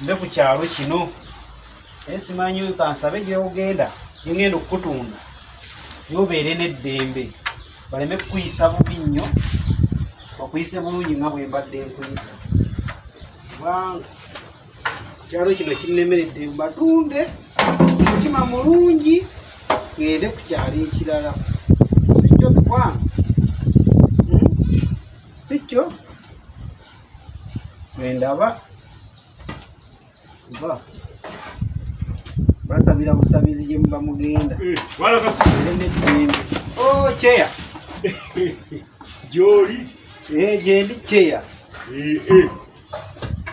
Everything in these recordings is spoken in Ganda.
nze ku kyalo kino naye simanyi oyo kansabe gyewogenda gyengenda okukutunda naye obeere n'eddembe baleme kukuyisa bubi nnyo bakuyise bulungi nga bwembadde nkuyisa kubanga kyalo kino kinnemeredde mbatunde mutima mulungi ngende ku kyalo ekirala sikyo bikwano hmm? sikyo bwendaba kuba basabira busabizi gye muba mugenda eh, neddembe oh, kyeya gyoli eh, gyendi kyeya eh,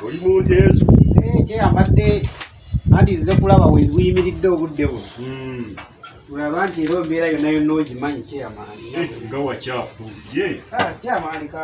oli munteezo kyeya mbadde anti nze kulaba weyimiridde obudde bu hmm. olaba nti era obeera yonna yonna ogimanyi kyeyamaani nga wakyafu nzije ah, kyamaani ka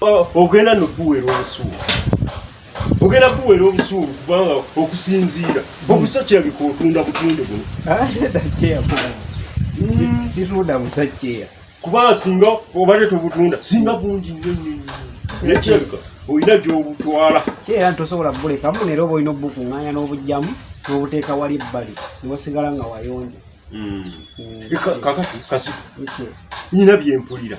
Oh, ogenda nokuwera obusuulu ogenda kuwera obusuulu kubanga okusinziira obusa kirabika otunda butunde buno ah, hmm. situnda musajja kubanga singa obadde tobutunda singa bungi nyonyonyo naye kirabika olina gyobutwala era tosobola bulekamu nera oba olina obukuŋŋanya n'obujjamu n'obuteeka wali ebbali newasigala nga wayonja hmm. Hmm. kakati kasi nyina byempulira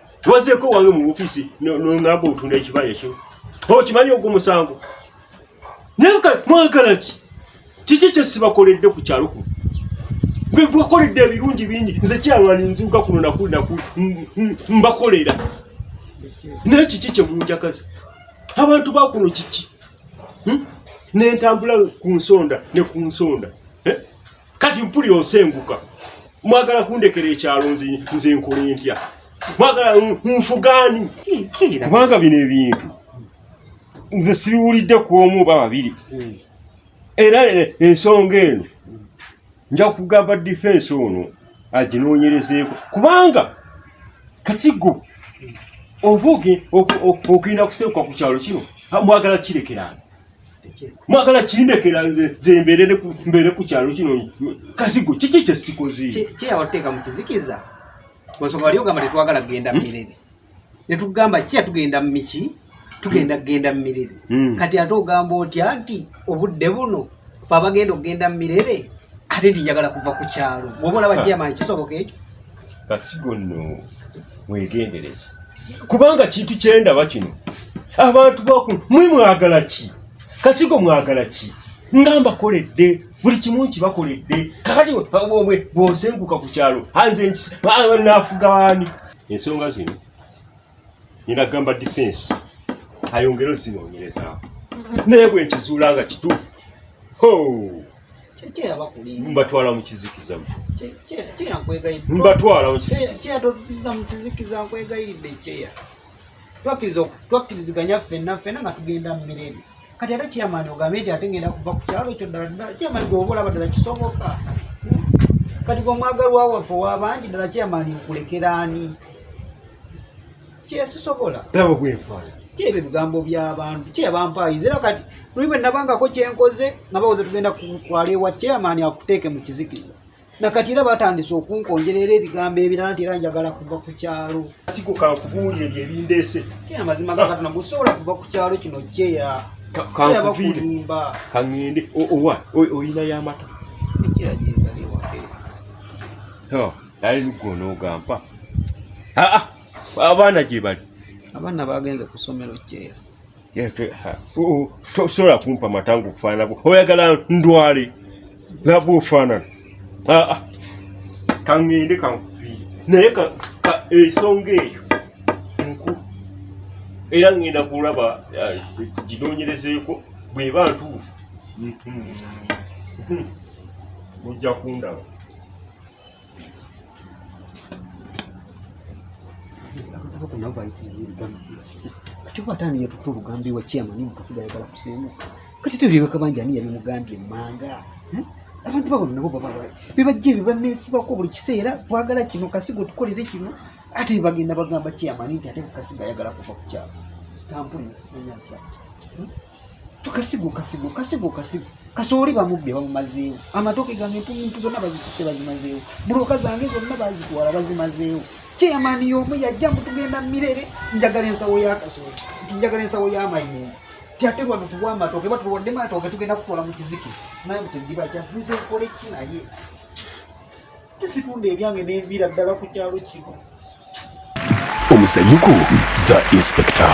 Wazeko wange mu office no no ngabo otunda ekibaya kyo. Ho kimanyi ogwo musango. Nenka mwagala ki? Kiki kye sibakoledde ku kyalo ku? Gwe bwakoledde ebirungi bingi nze kyalwani nzuka kuno naku naku mbakolera. Naye kiki kye munjakaza? Abantu ba kuno kiki? Hmm? Nentambula ku nsonda ne ku nsonda. kati mpulira osenguka mwagala kundekera ekyalo nze nkola empya mwagala nfugaani kubanga bino ebintu nze sibiwulidde ku omu oba babiri hmm. era ensonga eno nja kugamba difensi ono aginoonyerezeeko kubanga kasigo oba ogenda kusebuka ku kyalo kino mwagala kirekerana mwagala kindekera nze zembeere mbeere ku kyalo kino kasigo kiki kyesikoze kyeyawateeka mu kizikiza ensonga wali ogamba tetwagala kugenda hmm? mumirebe netugamba kiya tugenda mumiki tugenda kugenda mumirebe hmm. kati ate ogamba otya nti obudde buno fe abagenda okugenda mumirebe ate nti njagala kuva ku kyalo bwoba olaba kiyamani kisoboka ekyo basigo nno mwegendereze kubanga kintu kyendaba kino abantu bakulu mwe mwagala ki kasigo mwagala ki nga mbakoledde buli kimu nkibakoledde kakati obwe bwosenguka ku kyalo anze naafuga waani ensonga zino nyina gamba defense ayongere ozinoonyerezaako naye bwe nkizuula nga kituufu ho mbatwala mu kizikiza mbatwala mu kizikiza nkwegayiridde kyeya twakkiriziganya ffenna ffenna nga tugenda mu mirembe kati ate chairman ogambye nti ate ngenda kuva ku kyalo ekyo ddala ddala chairman gwe oba olaba ddala kisoboka kati gwe omwagalwa waffe owabangi ddala chairman okulekera ani kyesisobola tabo gwefaala kyebyo ebigambo byabantu kyebampaayiza era kati luli bwe nabangako kyenkoze nga bawoze tugenda kutwala ewa chairman akuteeke mu kizikiza nakati era batandise okunkonjera era ebigambo ebirala nti era njagala kuva ku kyalo sikuka okubuulira ebyo ebindeese kye amazima ga katonda mbu sobola kuva ku kyalo kino kyeya kyeyabakulimba kaŋŋende owa oyina y'amata naye lugga onoogampa abaana gye bali abaana bagenze ku ssomero kyeya tosobola kumpa matangu kufaananako oyagala ndwale laba ofaanana ah, ah. kangende kankuviire naye ensonga eyo nku era ngenda kulaba eh, ginoonyerezeeko bweba ntuufu mujja kundaba kyobatandiye tukulugambye wa chairman mukasiga ayagala kusenga kati tuliwe kabanja ani yabimugambye manga hmm? abantu babona nabo baba bibajja ebyo banesibako buli kiseera twagala kino kasiga otukolere kino ate bagenda bagamba chairman nti ate kukasiga ayagala kuva ku kyalo sitampuli nsimanyakyalo tukasigo kasigo kasigo kasigo kasooli bamubbe bamumazeewo amatooke gange empumuntu zonna bazitutte bazimazeewo buloka zange zonna bazitwala bazimazeewo kyeyamaani y'omu yajja mutugenda mirere njagala ensawo ya kasooli nti njagala ensawo y'amayinga ti ate lwano tuwa amatooke batuwadde matooke tugenda kutwala mu kizikiza naye mutegiba kyasize nkole ki naye kisitunda ebyange nenviira ddala ku kyalo kino omuzanyuku the inspector